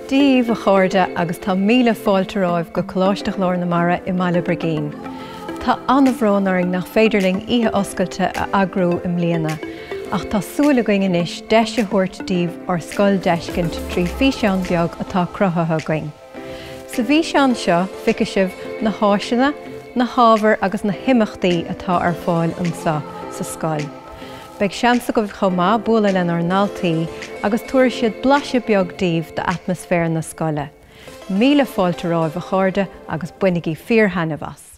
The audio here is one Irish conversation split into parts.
Dia dhíbh, a chairde, agus tá míle fáilte romhaibh go Coláiste Ghlór na Mara i mBaile Brigín. Tá an-bhrón orainn nach féidir linn oíche oscailte a eagrú i mbliana, ach tá súil againn anois deis a thabhairt díbh ár scoil d'fheiscint trí físeán beag atá cruthaithe againn. Sa bhfíseán seo feicfidh sibh na háiseanna, na hábhair agus na himeachtaí atá ar fáil anseo sa scoil. Beidh seans agaibh chomh maith bualadh lenár ndaltaí agus tabharfaidh siad blaiseadh beag daoibh d'atmaisféar na scoile. Míle fáilte romhaibh a chairde agus bainigí fíor-thaitneamh as!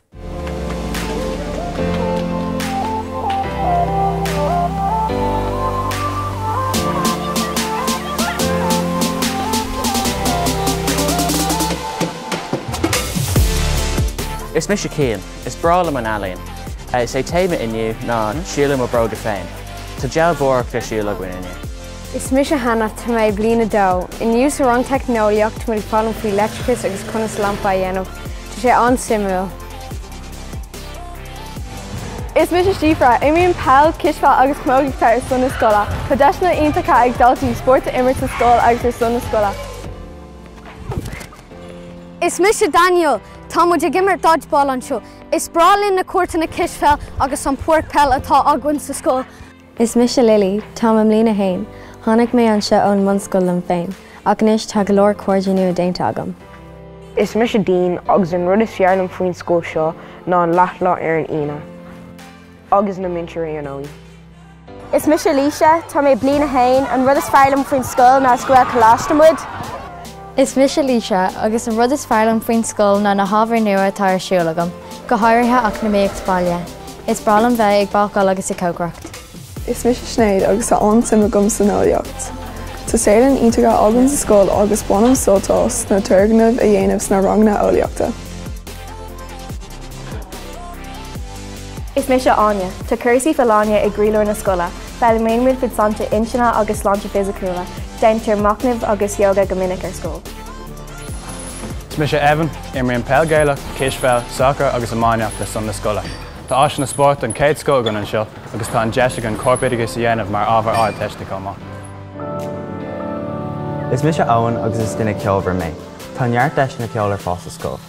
Is mise Cian. Is breá liom an ealaín. Is é téama inniu ná Siúl i mo Bróga Féin. Tá dealbhóireacht ar siúl againn inniu. Is mise Hannah. Tá mé i bliain a dó. Inniu sa rang teicneolaíocht, muid ag foghlaim faoi leictreachas agus conas lampa a dhéanamh. Tá sé an-suimiúil. Is mise Síofra. Imrím peil, cispheil agus camógaíocht ar son na scoile. Tá deiseanna iontacha ag daltaí spórt a imirt sa scoil agus ar son na scoile. Is mise Daniel. Tá muid ag imirt dodgeball anseo. Is breá linn na cúirteanna cispheil agus an pháirc peil atá againn sa scoil. Is mise Lily, tá mé i mbliain a haon. Tháinig mé anseo ón mbunscoil liom féin, ach anois tá go leor cairde nua déanta agam. Is mise Dean, agus an rud is fearr liom faoin scoil seo ná an leathlá ar an Aoine. Agus na múinteoirí ar ndóigh. Is mise Laoise, tá mé i bliain a haon. An rud is fearr liom faoin scoil ná is Gaelcholáiste muid. Is mise Laoise, agus an rud is fearr liom faoin scoil ná na hábhair nua atá ar siúl agam, go háirithe eacnamaíocht baile. Is breá liom bheith ag bácáil agus ag cócaireacht. Is mise Sinéad agus tá an-suim agam san eolaíocht. Tá saotharlann iontach againn sa scoil agus bainim sult as na turgnaimh a dhéanamh sna ranganna eolaíochta. Is mise Áine. Tá cúrsaí folláine i gcroílár na scoile. Foghlaimaíonn muid faoi sláinte intinne agus sláinte fisiciúla. Déantar machnamh agus yoga go minic ar scoil. Is mise Evan. Imrím peil Gaelach, cispheil, sacar agus iomáineacht ar son na scoile. Tá áiseanna spóirt den chéad scoth againn anseo agus tá an deis againn corpoideachas a dhéanamh mar ábhar ardteiste chomh maith. Is mise Eoin agus is duine ceolmhar mé. Tá neart deiseanna ceoil ar fáil sa scoil.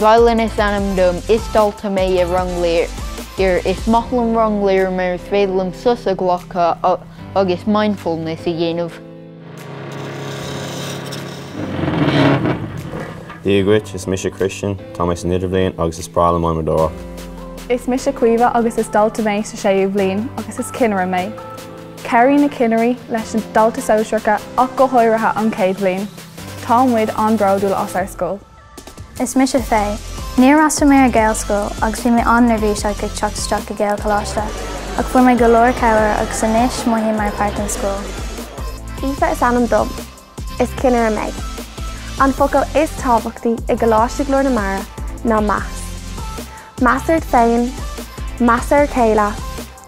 Gaileann is ainm dom is dalta mé i Rang Lir. Is maith liom Rang Lir mar is féidir liom sos a ghlacadh agus mindfulness a dhéanamh. Dia dhuit, is mise Christian, tá mé san idirbhliain agus is breá liom adhmadóireacht. Is mise Caoimhe agus is dalta mé sa séú bhliain agus is cinnire mé. Cabhraíonn na cinnirí leis na daltaí sóisearacha ach go háirithe an chéad bhliain. Tá muid an-bródúil as ár scoil. Is mise Faye. Níor fhreastail mé ar Gaelscoil agus bhí mé an-neirbhíseach ag teacht isteach i nGaelcholáiste, ach fuair mé go leor cabhair agus anois mothaím mar pháirt den scoil. Aoife is ainm dom. Is cinnire mé. An focal is tábhachtaí i gColáiste Ghlór na Mara ná meas. Meas ort féin, meas ar a chéile,